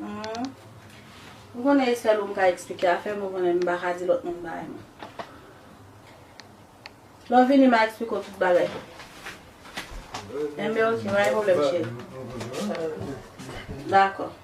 M konnen Estelle ou m ka eksplike afè m ou konnen m pa ka di lòt moun bagay m. Lè w vini m a eksplike w tout bagay. Enben ok pa gen pwoblèm cheri. Dakò.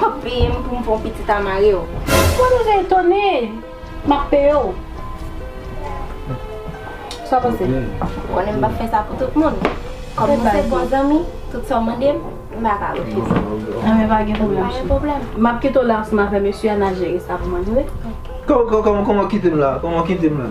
Wap peye m pou m fè yon pitit a mari w. Mwen deja etone! Map peye w. Sa w panse? Ou konnen m pap fè sa pou tout moun. Kòm nou se bon zanmi, tout sa w mande m, m pa ka refize. Anben pa gen pwoblèm cheri. Pa gen pwoblèm. Map kite w la ansanm avè mesye a, n al jere sa pou manje, ok? Kòman w kite m la? Kòman w kite m la?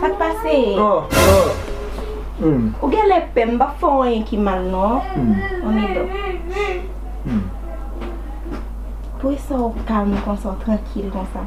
Sak pase? Ou gen lè pè, m pap fè w anyen ki mal non. An nou dòmi. Pou esaw kalm konsa, w trankil konsa.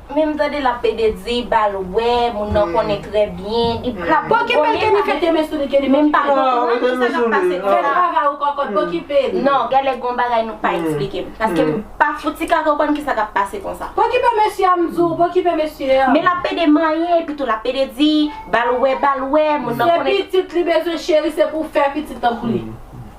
Men m tande lap pede di bal wè moun nan konnen trè byen li pap Pokipel Kenny mete men sou li Kenny men m pa konprann ki sa kap pase fè travay ou kokot pokipel. Non genlè gon bagay nou pa eksplike m paske m pa fouti ka konprann kisa kap pase konsa. Pokipe mesye a m di w pokipe mesye a. Men lap pede manyen epitou lap pede di bal wè bal wè moun nan konnen. Se pitit li bezwen cheri se pou fè pitit tankou li.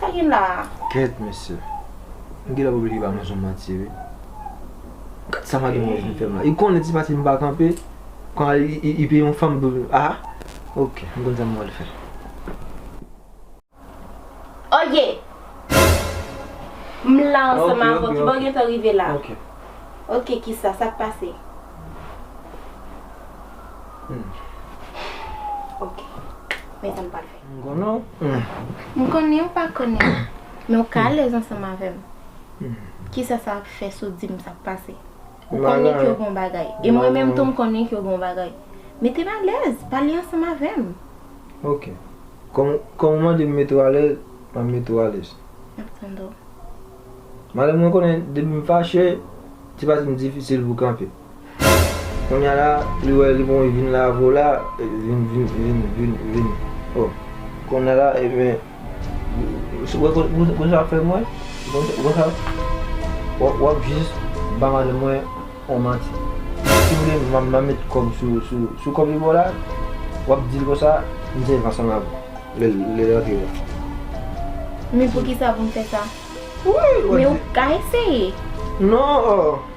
Sa gen la a? Kèt mesye. M gentan pou bliye ba mwen son manti wi. Gad sa mademoz vin fèm la. Li konnen ti pati m pa kanpe. Kon al li peye yon fanm pou vin ah. Ok m konn sa m pral fè. Oye! M la ansanm avè w. Kibo w gentan rive la? Ok. Ok kisa? Sa k pase? Ok. Men sa m pral fè. M konnen w. M konnen ou pa konnen m. Men ou ka alèz ansanm avè m. Kisa sa ap fè si w di m sa k pase? Ou konnen ke w gon bagay. E mwen menm tou m konnen ke w gon bagay. Mete m alèz, pale ansanm avè m. Ok. Kòm ou mande m mete w alèz, m ap mete w alèz. M ap tande w. Madam mwen konnen depi m fache, ti pati m difisil pou kanpe. Kounya la li wè li bon li vin lave w la vin vin vin vin vin oh kounya la ebyen ou wè kousa wap fè mwen ou wè sa wap jis ba madanm mwen yon manti si vle map met kòm sou sou sou kòm li ba w la wap dil konsa m se van san avèw lèl lèl rantre la. Men poukisa pou m fè sa? Wi wap di. Men ou ka eseye. Non oh.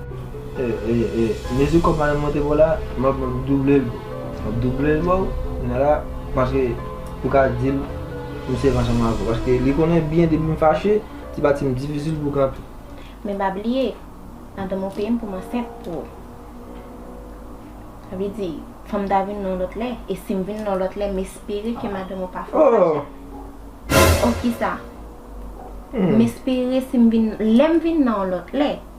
Mezi kòb madanm mwen te baw la map doublel map doublel baw kounye la paske pou ka dil m sèvi ansanm avèw paske li konnen byen depim fache ti pati m difisil pou kanpe. Men pa bliye madanm ou peyem poum ansent pou ou sa vle di fòm ta vin yon lòt lè e sim vin yon lòt lè m espere ke madanm ou pa fè ou fache oh kisa m espere sim vin lèm vin nan yon lòt lè.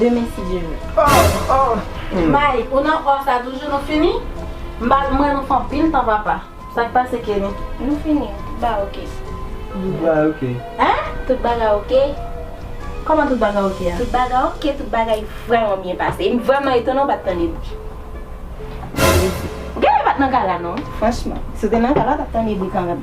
demen si Dye vle. Oh oh Mike ou nan or sa toujou nou fini mbal mwen nou fè anpil tan papa sak pase Kenny. Nou fini wi tout bagay ok. Tout bagay ok. Hein? Tout bagay ok. Kòman tout bagay ok a? Tout bagay ok tout bagay vrèman byen pase em vrèman etone ou pat tande bri. Ou genlè pat nan gala non franchman. Si w te nan gala w tap tande bri kanmèm.